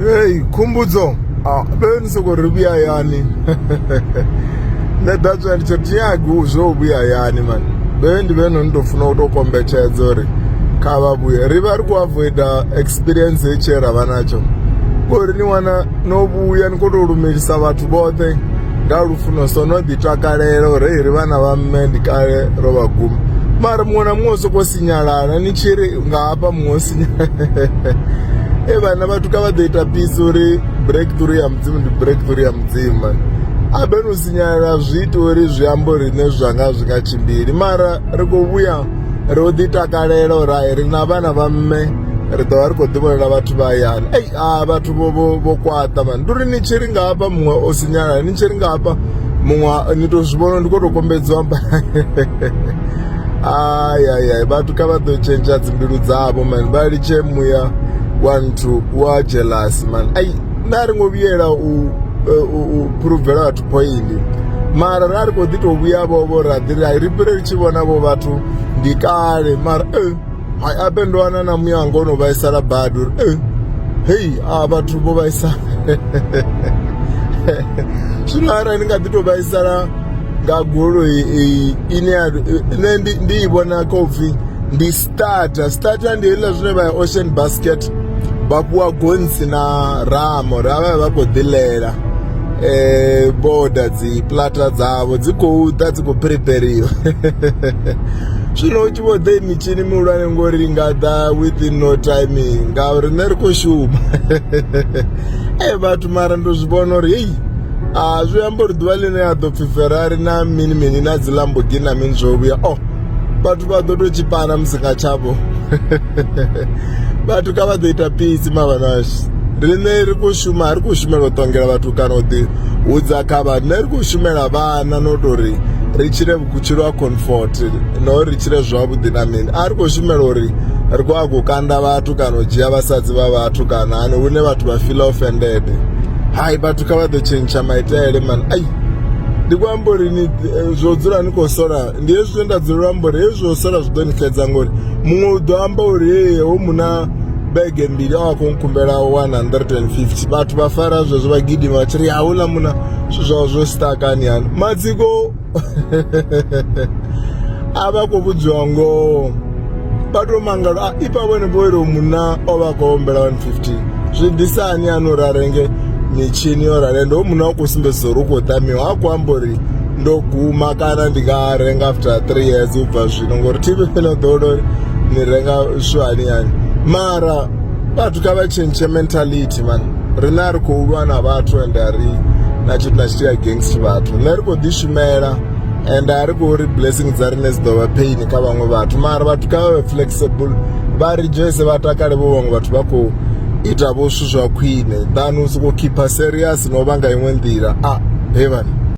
hei khumbudzo be ni sokou ri vhuya hayani nṋe that's why ndi tsho tinyagi zwo vhuya hayani mani be ndi vhe no ni tou funa u tou kombetshedza uri kha vha vhuye ri vha ri khou avoida experience ye tshee ra vha natsho ngori ni wana no vhuya ni khou tou lumelisa vhathu vhoṱhe nga lufuno so no ḓi takalela uri ri vhana vha mme ndi kale ro vha guma mara muṅwe na muṅwe u sokou sinyalala ni tshi ri nga hafha muṅwe sinyalala e vhana vhathu kha vha ḓo ita pisi uri breakthrough ya mudzimu ndi breakthrough ya mudzimu abeni u sinyalala zwi ita uri zwi amba uri nṋe zwanga zwi nga tshimbili mara ri khou vhuya ri u ḓi takalela uri hai ri na vhana vha mme ri ḓovha ri khou ḓivhonela vhathu vha hayani ei a vhathu vho kwaṱa mani ndi uri ni tshi ri nga hafha muṅwe o sinyalala ni tshi ri nga hafha muṅwe ni to zwi vhona ndi khou tou kombedziwa mba ayayay vhathu kha vha ḓo tshentsha dzimbilu dzavho mani vha litshe muya wa nthu wa jealous mani ai nda ri ngo vhuyela u phuruvela vhathu poindi mara ra ri khou ḓi tou vhuya vhovho ra ḓi ri ri fhire ri tshi vhona vho vhathu ndi kale mara eh, hai ape ndo wana na muya wanga o no vhaisala badi uri eh, hei a vhathu vho vhaisala zwino arali ndi nga ḓi tou vhaisala nga goloi iyi ine ya nṋe ndi ndi i vhona kha upfhi ndi starter starter ndi hezwiḽa zwine vha ya ocean basket vha fhiwa gonsi na ramo ra vha vha khou ḓilela eh boda dzi plata dzavho dzi khou ḓa dzi khou prepariwa zwino u tshi vho ḓe mitshini mihulwane ngori i nga ḓa within no time ngauri nṋe ri khou shuma e vhathu mara ndo zwi vhona uri heyi a zwi amba uri ḓuvha ḽine ya ḓo pfhi ferrari na mini mini na dzi lamborghini na mini zwo vhuya o oh, vhathu vha ḓo tou tshipana musi nga tshavho vhathu kha vha ḓo ita pisi mavhanashu riṋe ri khou shuma a ri khou shumela u ṱongela vhathu kana u ḓi hudza kha vha riṋe ri khou shumela vhana no tou ri ri tshile vhutshilo ha comfort na uri ri tshile zwavhuḓi na mini a ri khou shumela uri ri khou a khou kanda vhathu kana u dzhia vhasadzi vha vhathu kana hani hune vhathu vha feel offended hai vhathu kha vha ḓo tshentsha maitele mani ai ndi khou amba uri ni eh, zwo dzula ni khou sola ndi hezwi zwe nda dzula amba uri hezwi zwo sola zwi ḓo ni xedza ngori muṅwe u ḓo amba uri ee ho muna bege mbili a wa khou nkhumbela 150 vhathu vha fara zwezwo vha gidima vha tshi ri a hula muna zwithu zwao zwo stakani hani matsiko a vha khou vhudziwa ngoho vha tou mangala a ipa vhone vho ilo munna o vha khou ombela 115 zwi ḓisa ani ani uri a renge mitshini yo rale ndo munna u khou sumbedzisa uri u khou tamiwa ha khou amba uri ndo guma kana ndi nga renga after three years u bva zwino ngori tv fhela ḓowela uri ni renga swani yani mara vhathu kha vha tshentshe mentality man riṋe a ri khou lwa na vhathu ende a ri na tshithu na tshithihi against vhathu nṋe ri khou ḓishumela and a ri khou ri blessing dza riṋe dzi ḓo vha pain kha vhaṅwe vhathu mara vhathu kha vha vhe flexible vha rejoice vha takale vho vhaṅwe vhathu vha khou ita vho zwithu zwa khwine than u sokou khipha serious no vha nga iṅwe nḓila a he vhani